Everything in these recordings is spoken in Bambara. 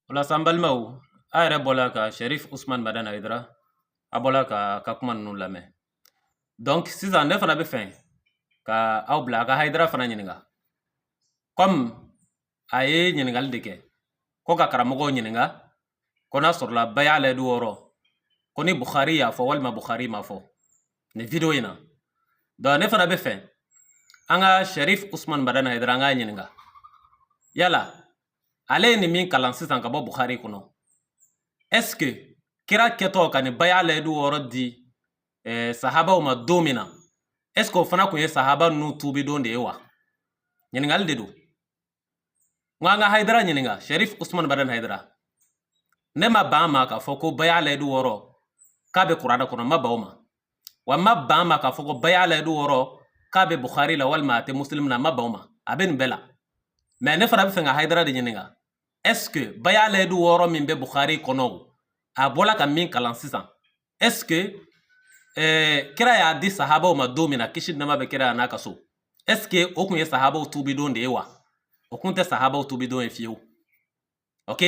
o la sa an balimaw a yɛrɛ bɔla ka sharif usman madan hayidara a bɔla ka ka kuma ninnu lamɛn donc sisan ne fana bɛ fɛ ka aw bila a ka hayidara fana ɲininka comme a ye ɲininkali de kɛ ko ka karamɔgɔw ɲininka ko n'a sɔrɔla baya layidu wɔɔrɔ ko ni bukhari y'a fɔ walima bukhari m'a fɔ nin video in na donc ne fana bɛ fɛ an ka sharif usman madan hayidara an k'a ɲininka yala ale ye nin min kalan sisan ka bɔ bukhari kɔnɔ est ce que kira kɛtɔ ka nin baya layidu wɔɔrɔ di eh, sahabaw ma don min na est ce que o fana kun ye sahaba ninnu tuubidon de ye wa ɲininkali de don n ko an ka hayidara ɲininka sharif usman madan hayidara ne ma ban ma k'a fɔ ko baya layidu wɔɔrɔ k'a bɛ kurana kɔnɔ n ma ban o ma wa n ma ban ma k'a fɔ ko baya layidu wɔɔrɔ k'a bɛ bukhari la walima a tɛ muslim na n ma ban o ma a bɛ nin bɛɛ la mais ne fana bɛ fɛ ka hayidara de ɲininka est ce que baya layidu wɔɔrɔ min bɛ bukhari kɔnɔ o a bɔla ka min kalan sisan est ce que eh, kira y'a di sahabaw ma don min na kisi nɛɛma bɛ kira n'a ka so est ce que o kun ye sahabaw tuubidon de ye wa o kun tɛ sahabaw tuubidon ye fiyewu ok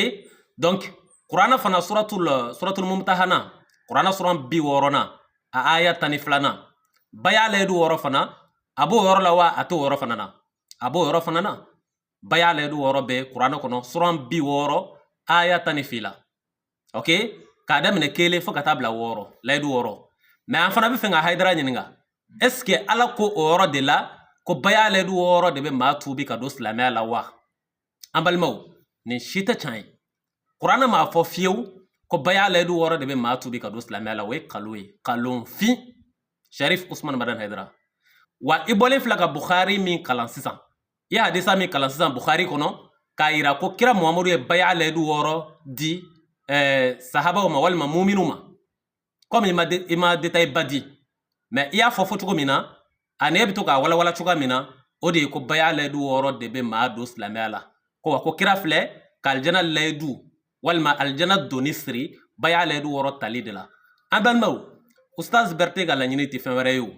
donc kurana fana suratul suratul mumtahana kurana suran bi wɔɔrɔnan a aya tan ni filanan baya layidu wɔɔrɔ fana a b'o yɔrɔ la wa a t'o yɔrɔ fana na a b'o yɔrɔ fana na baya layidu wɔɔrɔ bɛ kurana kɔnɔ suran bi wɔɔrɔ aya tan ni fila ok k'a daminɛ kelen fo ka taa bila wɔɔrɔ layidu wɔɔrɔ mais an fana bɛ fɛ ka hayidara ɲininka est ce que ala ko o yɔrɔ de la ko baya layidu wɔɔrɔ de bɛ maa tuubi ka don silamɛya la wa an balimaw nin si tɛ can ye kurana m'a fɔ fiyewu ko baya layidu wɔɔrɔ de bɛ maa tuubi ka don silamɛya la o ye kalon ye kalonfin sharif usman madan hayidara wa i bɔlen filɛ ka bukhari min kalan sisan i ye hadisa min kalan sisan bukhari kɔnɔ k'a yira ko kira muhamadu ye baya layidu wɔɔrɔ di eh, sahabaw ma walima muminu ma komi i ma i ma détail ba di mais i y'a fɔ fɔ cogo min na ani e bɛ to k'a walawala cogoya min na o de ye ko baya layidu wɔɔrɔ de bɛ maa don silamɛya la ko wa ko kira filɛ ka alijana layidu walima alijana donni siri baya layidu wɔɔrɔ tali de la an balimaw ustaz bɛrɛte ka laɲini tɛ fɛn wɛrɛ ye o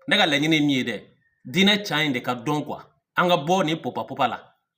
ne ka laɲini ye min ye dɛ diinɛ can in de ka dɔn quoi an ka bɔ nin popapopa la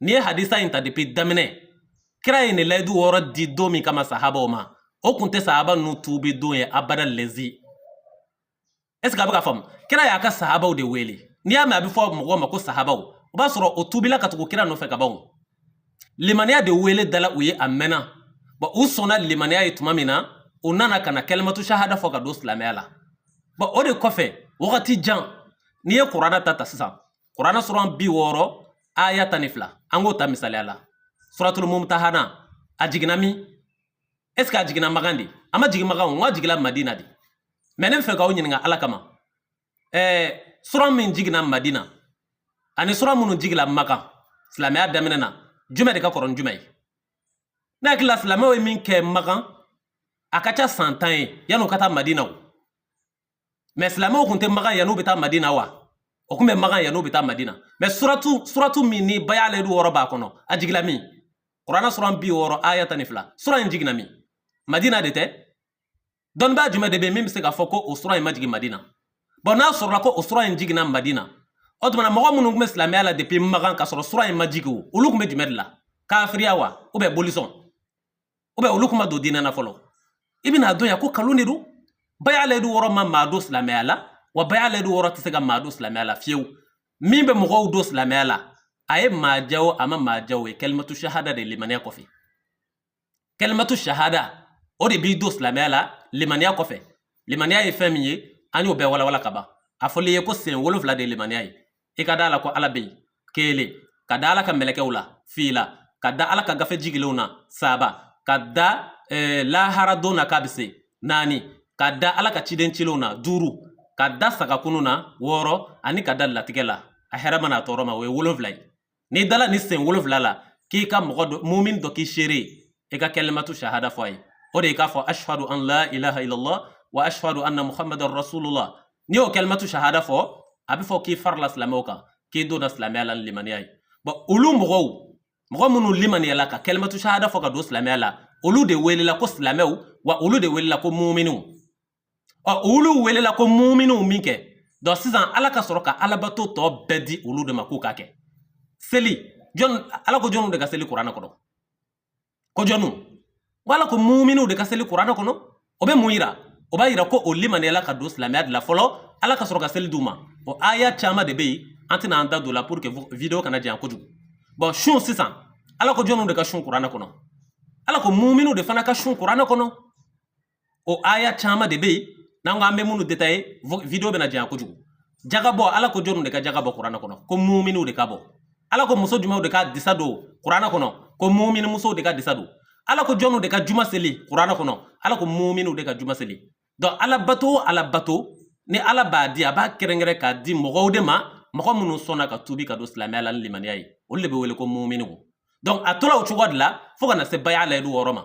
n'i ye hadisa in ta depuis daminɛ kira ye nin layidu wɔɔrɔ di don min kama sahabaw ma o kun tɛ sahaba ninnu tuubi don ye abada lezi est ce que a bɛ k'a faamu kira y'a ka sahabaw de wele n'i y'a mɛn a bɛ fɔ mɔgɔw ma ko sahabaw o b'a sɔrɔ o tuubila ka tugu kira nɔfɛ ka ban o limaniya de wele dala u ye a mɛnna bon u sɔnna limaniya ye tuma min na u nana ka na kalimatu shahada fɔ ka don silamɛya la bon o de kɔfɛ wagati jan n'i ye kurana ta ta sisan kuranɛ suran bi wɔɔrɔ aya tan ni fila an k'o ta misaliya la suratul mumtahana a jiginna min est ce que a jiginna makan de a ma jigin makan o a jigila madina de mais ne bɛ fɛ k'aw ɲininka ala kama ɛɛ sura min jiginna madina ani sura minnu jigila makan silamɛya daminɛ na jumɛn de ka kɔrɔ ni jumɛn ye ne hakili la silamɛw ye min kɛ makan a ka ca san tan ye yan'u ka taa madina o mais silamɛw kun tɛ makan yan'u bɛ taa madina wa o kun bɛ makan yan'u bɛ taa madina mais suratu suratu min ni bay'a layidu wɔɔrɔ b'a kɔnɔ a jigila min kuranɛ suran bi wɔɔrɔ aya tan ni fila sura in jiginna min madina de tɛ dɔnnibaa jumɛn de bɛ min bɛ se k'a fɔ ko o sura in ma jigin madina bon n'a sɔrɔla ko o sura in jiginna madina o tuma na mɔgɔ minnu tun bɛ silamɛya la depuis makan k'a sɔrɔ sura in ma jigin o olu tun bɛ jumɛn de la kafiriya wa ou bien bolisɔn ou bien olu kun ma don diinɛ na fɔlɔ i bɛna dɔn yan ko nkalon de don bay'a layidu wɔɔrɔ ma maa don silamɛya la wa bay'a layidu wɔɔrɔ tɛ se ka maa don silamɛya la fiyewu min bɛ mɔgɔw don silamɛya la a ye maa ja o a ma maa ja o ye kalimatu shahada de limaniya kɔfɛ kalimatu shahada o de b'i don silamɛya la limaniya kɔfɛ limaniya ye fɛn min ye an y'o bɛɛ walawala ka ban a fɔli ye ko sen wolonfila de ye limaniya ye i ka da a la ko ala bɛ yen kelen ka da ala ka mɛlɛkɛw la fila ka da ala ka gafe jigilenw na saba ka da eh, lahara don na k'a bɛ se naani ka da ala ka ciden cilenw na duuru ka da sagakunu na wɔɔrɔ ani ka da latigɛ la a hɛrɛma n'a tɔɔrɔma o ye wolonfila ye n'i dala nin sen wolonfila la k'i ka mɔgɔ dɔ mumin dɔ k'i seere i ka kalimatu shahada fɔ a ye o de ye k'a fɔ ashhadu an la ilaha illallah wa ashhadu anna muhammadan rasulullah n'i y'o kalimatu shahada fɔ a bɛ fɔ k'i farila silamɛw kan k'i donna silamɛya la ni limaniya ye bon olu mɔgɔw mɔgɔ minnu limaniyala ka kalimatu shahada fɔ ka don silamɛya la olu de welela ko silamɛw wa olu de welela ko muminiw ɔ olu welela ko muminiw minkɛ donc sisan ala ka sɔrɔ ka alabato tɔ bɛɛ di olu de ma k'u k'a kɛ seli jɔn ala ko jɔnw de ka seli kuranɛ kɔnɔ ko jɔnw ko ala ko muminiw de ka seli kuranɛ kɔnɔ o bɛ mun yira o b'a yira ko o limaniyala ka don silamɛya de la fɔlɔ ala ka sɔrɔ ka seli d'u ma o aya caman de bɛ yen an tɛna an da don o la pour que video kana janya kojugu bon sun sisan ala ko jɔnw de ka sun kuranɛ kɔnɔ ala ko muminiw de fana ka sun kuranɛ kɔnɔ o aya caman de bɛ yen n'an ko an bɛ minnu détailler video bɛna janya kojugu jaga bɔ ala ko jɔnw de ka jaga bɔ kuranɛ kɔnɔ ko muminiw de k'a bɔ ala ko muso jumɛnw de ka disa don kuranɛ kɔnɔ ko mumini musow de ka disa don ala ko jɔnw de ka juma seli kuranɛ kɔnɔ ala ko muminiw de ka juma seli donc alabato o alabato ni ala b'a di a b'a kɛrɛnkɛrɛn k'a di mɔgɔw de ma mɔgɔ minnu sɔnna ka tubi ka don silamɛya la ni limaniya ye olu de bɛ wele ko muminiw donc a tola o cogoya de la fo ka na se bay'a layidu wɔɔrɔ ma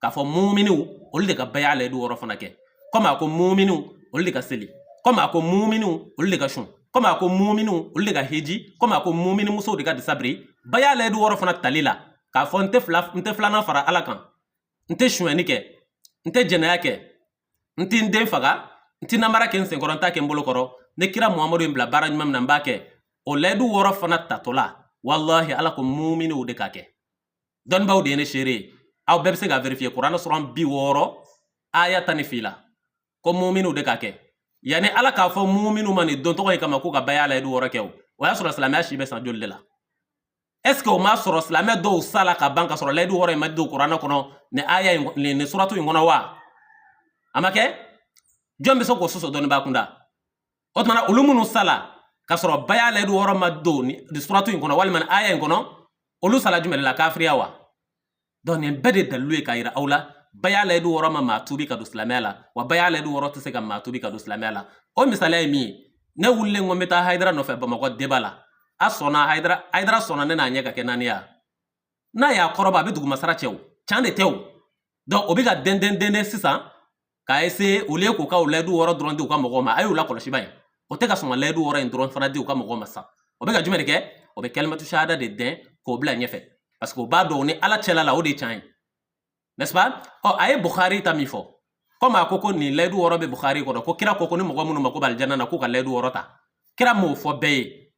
k'a fɔ muminiw olu de ka baya layidu wɔɔrɔ fana kɛ kɔmi a ko muminiw olu de ka seli kɔmi a ko muminiw olu de ka sun kɔmi a ko muminiw olu de ka hiji kɔmi a ko mumini musow de ka disa biri baya layidu wɔɔrɔ fana tali la k'a fɔ n tɛ fila n tɛ filanan fara ala kan n tɛ sonyɛni kɛ n tɛ jɛnɛya kɛ n tɛ n den faga n tɛ namara kɛ n senkɔrɔ n t'a kɛ n bolo kɔrɔ ni kira muhamadu ye n bila baara ɲuman min na n b'a kɛ o layidu wɔɔrɔ fana tatɔla walahi ala ko muminiw de k'a kɛ dɔnnibaaw de ye ne seere ye aw bɛɛ bɛ se ka vérifier kuranɛ suran bi wɔɔrɔ aya tan ni fila ko muminiw de k'a kɛ yanni ala k'a fɔ muminiw ma nin don tɔgɔ in kama k'u ka baya layidu wɔɔrɔ kɛ o o y'a sɔrɔ silamɛya si bɛ san joli de la est ce que o m'a sɔrɔ silamɛ dɔw sala ka ban ka sɔrɔ layidu wɔɔrɔ in ma don kuranɛ kɔnɔ nin aya in nin suratu in kɔnɔ wa a ma kɛ jɔn bɛ se k'o sɔsɔ dɔnnibaa kunda o tuma na olu minnu sala k'a sɔrɔ baya layidu wɔɔrɔ ma don suratu in kɔnɔ walima aya in kɔnɔ olu sala jumɛn la kafiriya wa donc nin bɛɛ de dalilu ye k'a yira aw la baya layidu wɔɔrɔ ma maa tuubi ka don silamɛya la wa baya layidu wɔɔrɔ tɛ se ka maa tuubi ka don silamɛya la o misaliya ye min ye ne wulilen ko n bɛ taa hayidara nɔfɛ bamakɔ débat la a sɔnna hayidara hayidara sɔnna ne n'a ɲɛ ka kɛ naani ye n'a y'a kɔrɔbɔ a bɛ dugumasara cɛ o can de tɛ o donc o bɛ ka dɛndɛn dɛndɛn sisan k'a essayer au lieu k'u ka o layidu wɔɔrɔ dɔrɔn di u ka mɔgɔw ma a y'u lakɔlɔsi ba ye o tɛ ka sɔn ka layidu wɔɔrɔ in dɔrɔn fana di u ka mɔgɔw ma sa o bɛ ka jumɛn de kɛ o bɛ kalimatu shahada de dɛn k'o bila ɲɛfɛ parce que o b'a dɔn ni ala cɛla la o de ye tiɲɛ ye n'est ce pas ɔ a ye bukhari ta min fɔ komi a ko ko nin layidu wɔɔrɔ bɛ bukhari kɔnɔ ko kira ko ko ni mɔgɔ minnu mako b'alijana na k'u ka layidu wɔɔrɔ ta kira m'o fɔ bɛɛ ye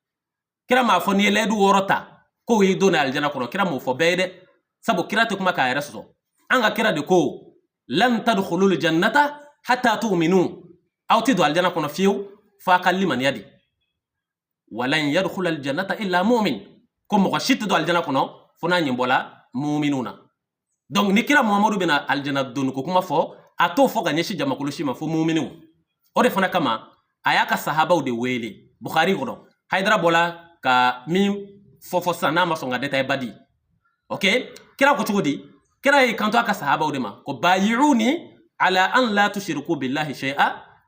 kira m'a fɔ n'i ye layidu wɔɔrɔ ta k'o y'i don alijana kɔnɔ kira m'o fɔ bɛɛ ye dɛ sabu kira tɛ kuma k'a yɛrɛ sɔsɔ an ka kira de ko lan tadkhulul jannata hatta tu'minu aw tɛ don alijana kɔnɔ fiyewu f'a ka limaniya de walan yadkhulal jannata illa mu'min ko mɔgɔ si tɛ don alijana kɔnɔ fo n'a ɲɛ bɔla mu'minw na donc ni kira muhamadu bɛna alijana donni ko kuma fɔ a t'o fɔ ka ɲɛsin jamakulu si ma fo muminiw o de fana kama a y'a ka sahabaw de wele bukhari kɔnɔ hayidara bɔla ka min fɔ fɔ sisan n'a ma sɔn ka détail ba di ok kira ko cogo di kira y'i kanto a ka sahabaw de ma ko bayi'uni ala an la tushriku billahi shay'a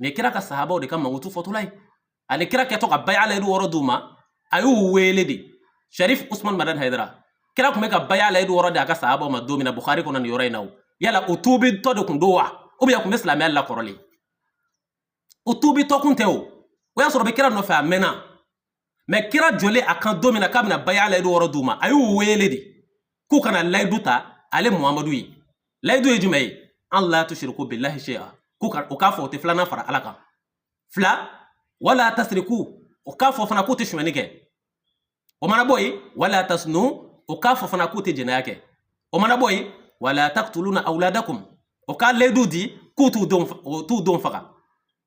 mɛ kira ka sahabaw de ka mankutu fɔtɔla ye ani kira kɛtɔ ka baya layidu wɔɔrɔ d'u ma a y'u weele de sharif usman madan hayidara kira kun bɛ ka baya layidu wɔɔrɔ di a ka sahabaw ma don min na bukhari kɔnɔ nin yɔrɔ in na o yala u tuubitɔ de kun don wa u bɛɛ kun bɛ silamɛya la kɔrɔlen u tuubitɔ kun tɛ o o y'a sɔrɔ u bɛ kira nɔfɛ a mɛnna mais kira jɔlen a kan don min na k'a bɛna baya layidu wɔɔrɔ d'u ma a y'u weele de k'u ka na layidu ta ale muhamadu ye layidu ye jumɛn ye an la tusiriku bilahi shay'a k'u ka o k'a fɔ o tɛ filanan fara ala kan fila wala tasiriku o k'a fɔ fana k'u tɛ sonyɛni kɛ o mana bɔ yen wala tasunu o k'a fɔ fana k'u tɛ jɛnɛya kɛ o mana bɔ yen wala taktuluna awladakum o k'a layidu di k'u t'u denw t'u denw faga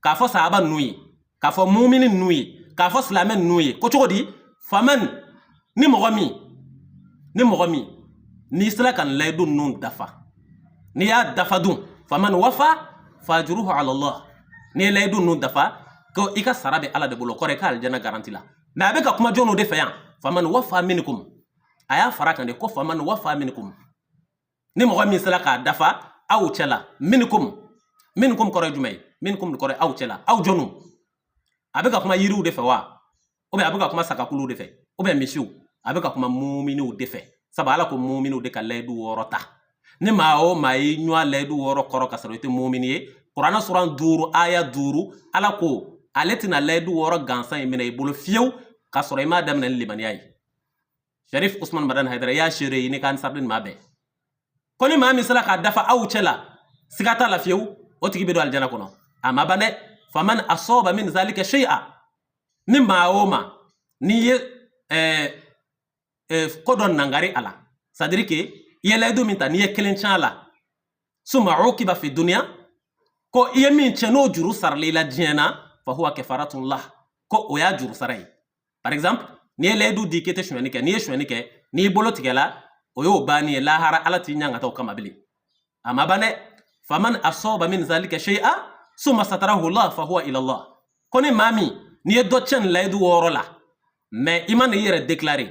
k'a fɔ sahaba ninnu ye k'a fɔ mumini ninnu ye k'a fɔ silamɛ ninnu ye ko cogo di faman ni mɔgɔ min ni mɔgɔ min n'i sera ka nin layidu ninnu dafa n'i y'a dafa dun faman wafa fajuruhu ala allah n'i ye layidu ninnu dafa ko i ka sara bɛ ala de bolo kɔrɔ i ka alijana garantila mais a bɛ ka kuma jɔnnu de fɛ yan faman wafa minikum a y'a fara kan de ko faman wafa minikum ni mɔgɔ min sera k'a dafa aw cɛla minikum minikum kɔrɔ ye jumɛn ye minikum kɔrɔ ye aw cɛla aw jɔnw a bɛ ka kuma yiriw de fɛ wa ou bien a bɛ ka kuma sagakuluw de fɛ ou bien misiw a bɛ ka kuma muminiw de fɛ sabu ala ko muminiw de ka layidu wɔɔrɔ ta ni maa o maa ye ɲɔa layidu wɔɔrɔ kɔrɔ ka sɔrɔ i tɛ mumini ye kuranɛ suran duuru aya duuru ala ko ale tɛna layidu wɔɔrɔ gansan in minɛ i bolo fiyewu k'a sɔrɔ i m'a daminɛ ni limaniya ye sharif usman madan haidara y'a seere ye n'a ka ansarudin maa bɛɛ ko ni maa min sera k'a dafa aw cɛ la siga t'a la fiyewu o tigi bɛ don alijana kɔnɔ a ma ban dɛ faman asɔba min zalika shay'a ni maa o maa n'i ye eh, eh, ko dɔ nangari a la c'est à dire que i ye layidu min ta n'i ye kelen tiɲɛ a la suma ukiba fi duniya ko i ye min tiɲɛ n'o juru saral'i la diɲɛ na fa huwa kafaratun lah ko o y'a juru sara ye par exemple n'i ye layidu di k'i tɛ sonyɛni kɛ n'i ye sonyɛni kɛ n'i bolo tigɛla o y'o bannen ye lahara ala t'i ɲangata o kama bilen a ma ban dɛ faman asɔba min zalika shay'a summa satarahu allah fa huwa ila allah ko ni maa min n'i ye dɔ tiɲɛ nin layidu wɔɔrɔ la mais i ma na i yɛrɛ déclarer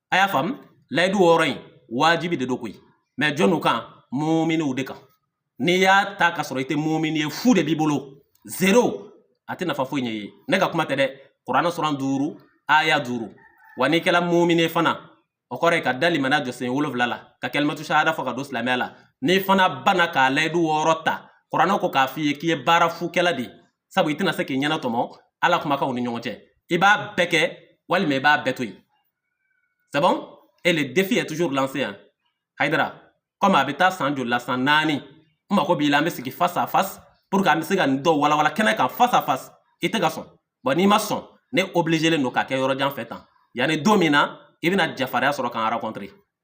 a y'a faamu layidu wɔɔrɔ in wajibi de don koyi mais jɔnnu kan muminiw de kan n'i y'a ta ka sɔrɔ i tɛ mumini ye fu de b'i bolo zéro a tɛ nafa foyi ɲ'i ye ne ka kuma tɛ dɛ kuranɛ suran duuru aya duuru wa n'i kɛra mumini ye fana o kɔrɔ ye ka da limaniya jɔsen wolonwula la ka kalimatu shahada fɔ ka don silamɛya la n'i fana banna ka layidu wɔɔrɔ ta kuranɛ ko k'a f'i ye k'i ye baara fu kɛla de ye sabu i tɛna se k'i ɲɛnatɔmɔ ala kumakanw ni ɲɔgɔn cɛ i b'a bɛɛ kɛ walima i b'a bɛɛ to yen c'est bon et le défi est toujours lancé hein haydara comme a bɛ taa san joli la san naani n mago b'i la an bɛ sigi face à face pour que an bɛ se ka nin dɔw walawala kɛnɛ kan face à face i tɛ ka sɔn bon n'i ma sɔn ne obligélen don k'a kɛ yɔrɔ jan fɛ tan yanni don min na i bɛna jafarinya sɔrɔ k'an rencontrer